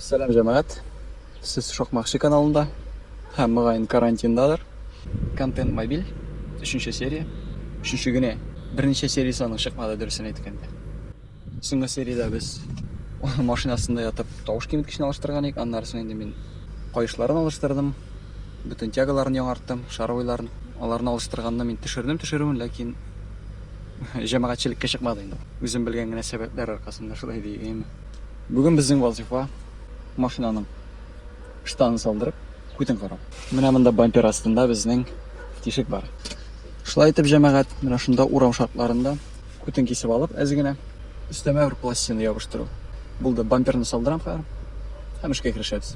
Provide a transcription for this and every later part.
Сәлам җәмәгать. Сез Шокмакчы каналында һәм мөгаен карантиндадыр. Контент мобиль, өченче серия. Өченче генә. Берничә сериясе аның чыкмады дөресен әйткәндә. Соңгы сериядә без машина астында ятып тавыш киметкечне алыштырган идек. Аннары соң инде мин каешларын алыштырдым, бөтен тягаларын яңарттым, шаровойларын. Аларны алыштырганны мин төшердем төшерүен, ләкин җәмәгатьчелеккә чыкмады инде. Үзем белгән генә сәбәпләр аркасында шулай дигәйме. Бүген безнең вазыйфа, машинаның штанын салдырып, күтен карау. Менә монда бампер астында безнең тишек бар. Шулай итеп, җәмәгать, менә шунда урам шартларында, Күтен кисеп алып, әз генә өстәмә бер пластина ябыштыру. Булды. Бамперны салдырам хәзер. Һәм эшкә керешәбез.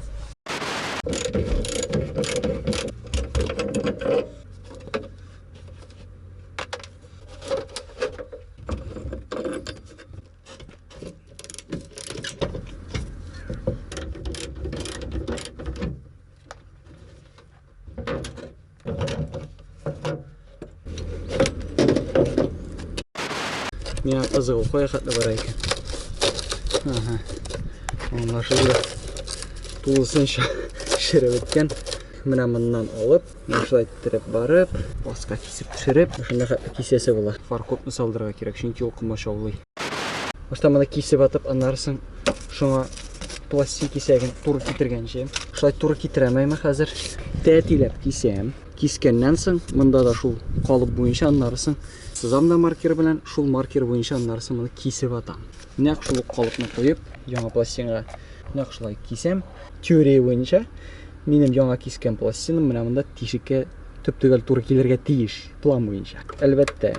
Миңа кызыгу кая хәтле бара икән. Ага. Аңлашылды. Тулысынча шереп беткән. Менә моннан алып, шулай иттереп барып, баска кисеп төшереп, шунда хәтле кисәсе була. Фаркопны салдырырга кирәк, чөнки ул комач аулый. Башта моны кисеп атып, аннары соң шуңа пластик кисәген туры китергәнче. Шулай туры китерәмәйм хәзер. Тәтиләп кисәм. Кискәннән соң монда да шул калып буенча аннары соң сызам да маркер белән, шул маркер буенча аннары соң моны кисеп атам. Нәкъ шул калыпны куеп, яңа пластинга нәкъ шулай кисәм. Теория буенча минем яңа кискән пластиным менә монда тишеккә төп-төгәл туры килергә тиеш. план буенча. Әлбәттә,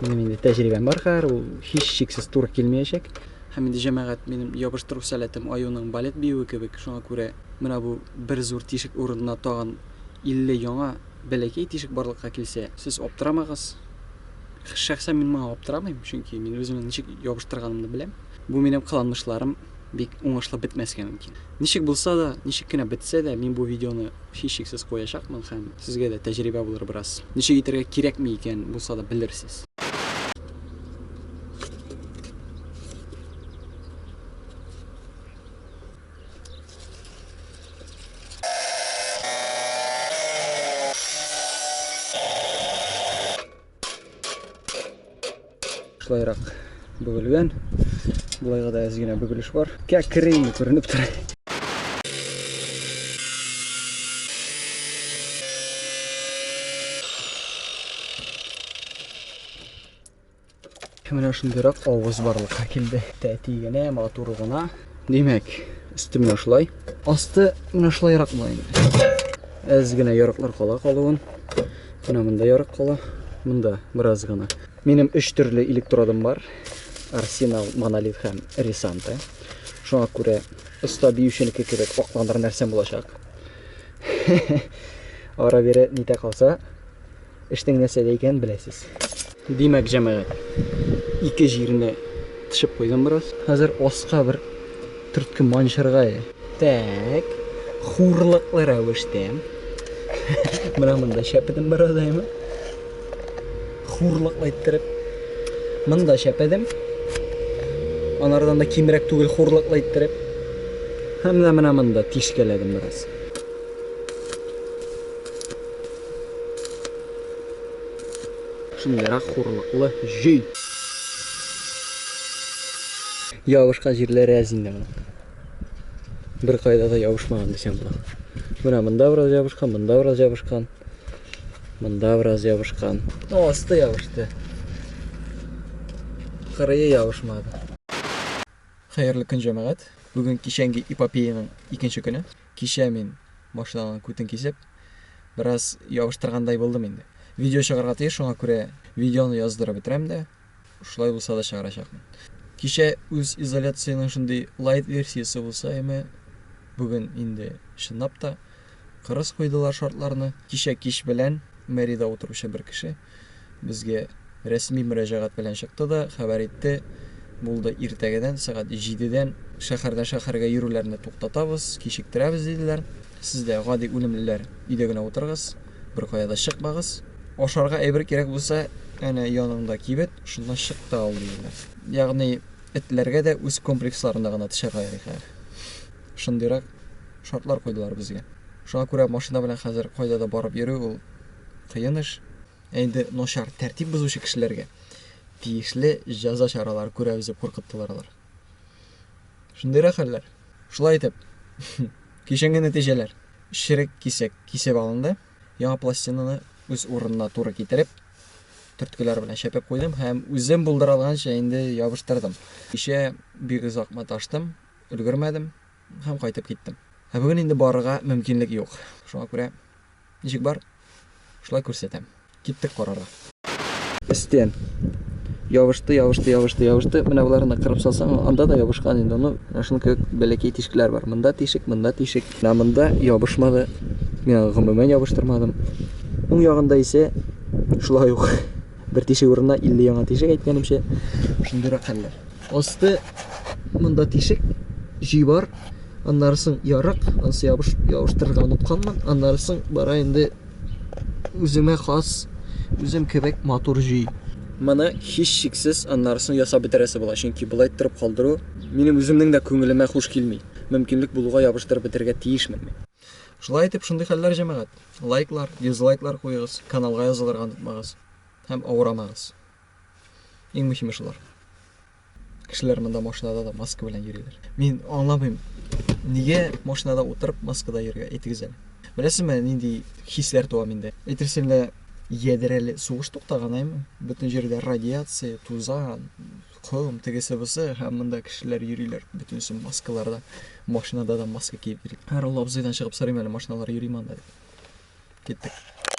минем инде тәҗрибәм бар хәзер, ул һичшиксез туры килмәячәк. Һәм инде җәмәгать минем ябыштыру сәләтем аюның балет биюе кебек, шуңа күрә менә бу бер зур тишек урынына тагын 50 яңа бәләкәй тишек барлыкка килсә, сез аптырамагыз. Шәхсән мин моңа аптырамыйм, чөнки мин үземнең ничек ябыштырганымны беләм. Бу минем кыланмышларым. бик уңышлы бетмәскә мөмкин. Ничек булса да, ничек кенә бетсә дә, мин бу видеоны һичшиксез куячакмын һәм сезгә дә тәҗрибә булыр бераз. Ничек итәргә кирәкме икән, булса да белерсез. Шулайрак бөгелгән. Болайга да әз генә бөгелеш бар. Кәкере инде күренеп тора. Менә шундыйрак авыз барлыкка килде. Тәти генә, матур гына. Димәк, өсте менә шулай. Асты менә шулайрак була инде. Әз генә ярыклар кала калуын. Менә монда ярык кала, монда бераз гына. Минем өч төрле электродан бар. Арсенал, Монолит һәм Ресанта. Шуңа күрә оста биюченеке кебек акландыр нәрсәм булачак. Ара бере нитә калса, Эшнең нәрсәдә икәнен беләсез. Димәк, җәмәгать, ике җиренә тешеп куйдым бераз. Хәзер аска бер төртке манчырга. Тәк, хурлыклы рәвештә. Менә монда чәпедем бераз әйме. Хурлыклы иттереп. Монда чәпедем. Анардан да кимрәк түгел хурлыклы иттереп. Һәм менә монда тишкәләдем бераз. Шундыйрак хурлыклы җөй. Ябышка җирләре әз инде моның. Бер кайда да ябышмаган дисәм була. Менә монда бераз ябышкан, монда бераз ябышкан. Монда бераз ябышкан. Ну, асты ябышты. Кырые ябышмады. Хәерле көн, җәмәгать. Бүген кичәнге эпопеяның икенче көне. Кичә мин, машинаның күтен кисеп, бераз ябыштыргандай булдым инде. Видео чыгарга тиеш, шуңа күрә видеоны яздырып бетерәм дә, шулай булса да чыгарачакмын. Кичә үз изоляциянең шундый лайт версиясе булса яме, бүген инде чынлап та кырыс куйдылар шартларны. Кичә кич белән мэрида утыручы бер кеше, Безгә рәсми мөрәҗәгать белән чыкты да хәбәр итте, Булды, иртәгәдән сәгать җидедән шәһәрдән шәһәргә йөрүләрне туктатабыз, кичектерәбез, диделәр. Сез дә, гади үлемлеләр, өйдә генә утырыгыз, беркая да чыкмагыз. Ашарга әйбер кирәк булса, әнә яныңда кибет, шуннан чык та ал, диделәр. Ягъни этләргә дә үз комплексларында гына төшәргә ярый хәер. Шундыйрак шартлар куйдылар безгә. Шуңа күрә машина белән хәзер кайда да барып йөрү ул Кыен эш. Ә инде начар тәртип бозучы кешеләргә тиешле җәза чаралары күрәбез дип куркыттылар алар. Шундыйрак хәлләр. Шулай итеп, кичәнге нәтиҗәләр. Черек кисәк кисеп алынды. Яңа пластинаны үз урынына туры китереп, төрткеләр белән чәпәп куйдым һәм үзем булдыра алганча инде ябыштырдым. Кичә бик озак маташтым, өлгермәдем һәм кайтып киттем. Ә бүген инде барырга мөмкинлек юк. Шуңа күрә Ничек бар? Шулай күрсәтәм. Киттек карарга. Өстен. Ябышты, ябышты, ябышты, ябышты. Менә боларны кырып салсаң, анда да ябышкан инде. Ну, шуның кебек бәләкәй тишекләр бар. Монда тишек, монда тишек. Менә монда ябышмады. Мин гомумән ябыштырмадым. Уң ягында исә шулай ук бер тишек урынына 50 яңа тишек әйткәнемчә. Шундыйрак хәлләр. Асты монда тишек, җөй бар. Аннары соң ярык, ансы ябыш, ябыштырырга онытканмын. Аннары соң бара инде үземә хас, үзем кебек матур җөй. Моны һич шиксез аннары соң ясап бетерәсе була, чөнки болай торып калдыру минем үземнең дә күңелемә хуш килми. Мөмкинлек булуга ябыштырып бетерергә тиешмен мин. Шулай итеп, шундый хәлләр, җәмәгать. Лайклар, дизлайклар куегыз, каналга язылырга онытмагыз һәм авырамагыз. Иң мөһиме шулар. Кешеләр монда машинада да маска белән йөриләр. Мин аңламыйм, нигә машинада утырып маскада йөрергә әйтегез әле. Беләсезме, нинди хисләр туа миндә? Әйтерсең лә ядрәле сугыш туктаган, әйме? Бөтен җирдә радиация, тузан, ком, тегесе бусы һәм монда кешеләр йөриләр бөтенесе маскаларда. Машинада да маска киеп йөри. Һәр абзыйдан чыгып сорыйм әле машиналар йөри монда дип. Киттек.